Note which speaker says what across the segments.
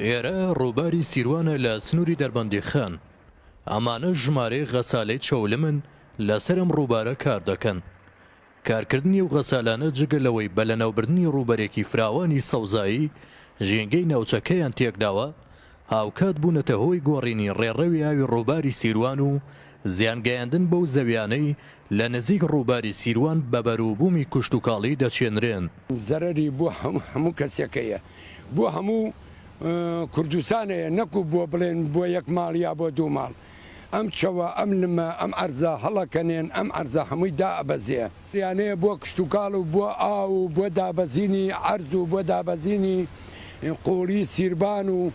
Speaker 1: ئێرە ڕووباری سیروانە لە سنووری دەربەندیخان. ئەمانە ژمارەیەک غەسالەی چەولمن لەسەر ئەم ڕووبارە کار دەکەن. کارکردنی ئەو غەسالانە جگە لەوەی بە لەناوبردنی ڕووبەرێکی فراوانی سەوزایی ژینگەی ناوچەکەیان تێکداوە، هاوکات بوونەتە هۆی گۆڕینی ڕێڕەوی ئاوی ڕووباری سیروان و زیانگەیاندن بەو زەویانەی لە نزیک ڕووباری سیروان بە بەروبوومی کوشتوکاڵی دەچێنرێن. زەرەری بۆ
Speaker 2: هەموو کەسێکەیە، بۆ هەموو کوردستانەیە، نەکو بۆ بڵێن بۆ یەک ماڵ یا بۆ دوو ماڵ. ئەم چەوە، ئەم لمە، ئەم عەرزە هەڵەکەنێن، ئەم عەرزە هەمووی دائەبەزێ. یانەیە بۆ کشتوکاڵ و بۆ ئاو و بۆ دابەزینی عەرز و بۆ دابەزینی قووڵی سیربان و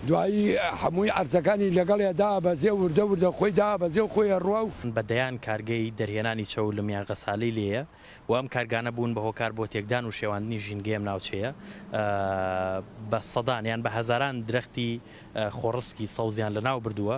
Speaker 2: دوایی هەمووی عەرزەکانی لەگەڵیا دابەزێ و وردە وردە خۆی دابەزێ و خۆی ئەڕوا و. بە دەیان کارگەی
Speaker 3: دەرهێنانی چەو لە میانغەسالەی لێیە و ئەم کارگانە بوون بە هۆکار بۆ تێکدان و شێواندنی ژینگەی ئەم ناوچەیە. بە سەدان یان بە هەزاران درەختی خۆڕسکی سەوزیان لە ناو بردووە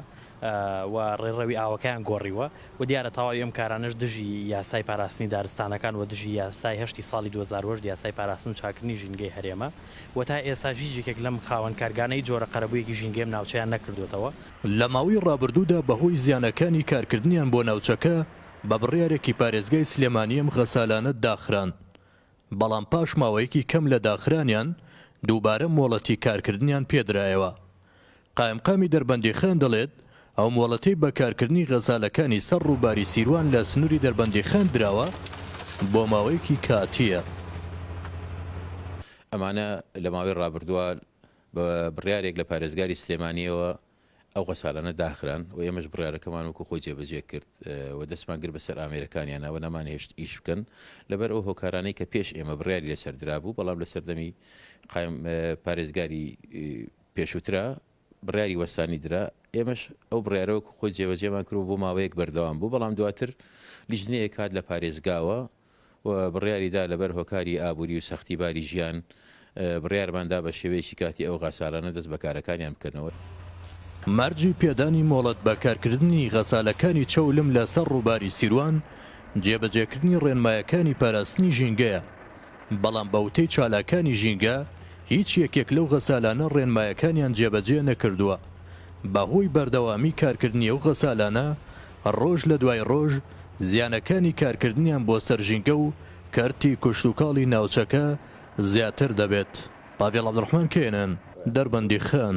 Speaker 3: و ڕێڕەوی ئاوەکەیان گۆڕیوە و دیارە تەواوی ئەم کارانەش دژی یاسای پاراستنی دارستانەکان و دژی یاسای هەشتی ساڵی دوو هەزار و هەشت یاسای پاراستن و چاکردنی ژینگەی هەرێمە. و تا ئێستاش هیچ یەکێک لەم خاوەن کارگانەی جۆرە قەرەبوویەکی ژینگەی ئەم ناوچەیان نەکردووەتەوە. لە ماوەی
Speaker 1: ڕابردوودا بەهۆی زیانەکانی کارکردنیان بۆ ناوچەکە بە بڕیارێکی پارێزگای سلێمانی ئەم غەسالانە داخران، بەڵام پاش ماوەیەکی کەم لە داخرانیان دووبارە مۆڵەتی کارکردنیان پێدرایەوە قائمقامی دەربەندیخان دەڵێت، ئەو مۆڵەتەی بە کارکردنی غەزالەکانی سەر ڕووباری سیروان لە سنووری دەربەندیخان دراوە، بۆ ماوەیەکی کاتییە.
Speaker 4: ئەمانە لە ماوەی ڕابردووە بە بڕیارێک لە پارێزگاری سلێمانییەوە ئەو غەسالانە داخران و ئێمەش بڕیارەکەمان وەکو خۆی جێبەجێ کرد و دەستمان گرت بەسەر ئامێرەکانیانە و نەمانهێشت ئیش بکەن لەبەر ئەو هۆکارانەی کە پێش ئێمە بڕیاری لەسەر درابوو بەڵام لە سەردەمی قایم پارێزگاری پێشووترا بڕیاری وەستانی درا، ئێمەش ئەو بڕیارە وەکو خۆی جێبەجێمان کرد و بۆ ماوەیەک بەردەوام بوو، بەڵام دواتر لیژنەیەک هات لە پارێزگاوە و بڕیاری دا لەبەر هۆکاری ئابووری و سەختی باری ژیان بڕیارمان دا بە شێوەیەکی کاتی ئەو غاسالانە دەست بە کارەکانیان بکەنەوە. مەرجی
Speaker 1: پێدانی مۆڵەت بە کارکردنی غەسالەکانی چەولم لە سەر ڕووباری سیروان، جێبەجێکردنی ڕێنمایەکانی پاراستنی ژینگەیە. بەڵام بە وتەی چالاکانی ژینگە، هیچ یەکێک لەو غەسالانە ڕێنمایەکانیان جێبەجێ نەکردووە. بەهۆی بەردەوامی کارکردنی ئەو غەسالانە، ڕۆژ لە دوای ڕۆژ زیانەکانی کارکردنیان بۆ سەر ژینگە و کەرتی کشتوکاڵی ناوچەکە زیاتر دەبێت. پاڤێڵ عەبدولڕەحمان، کەیەنەن، دەربەندیخان.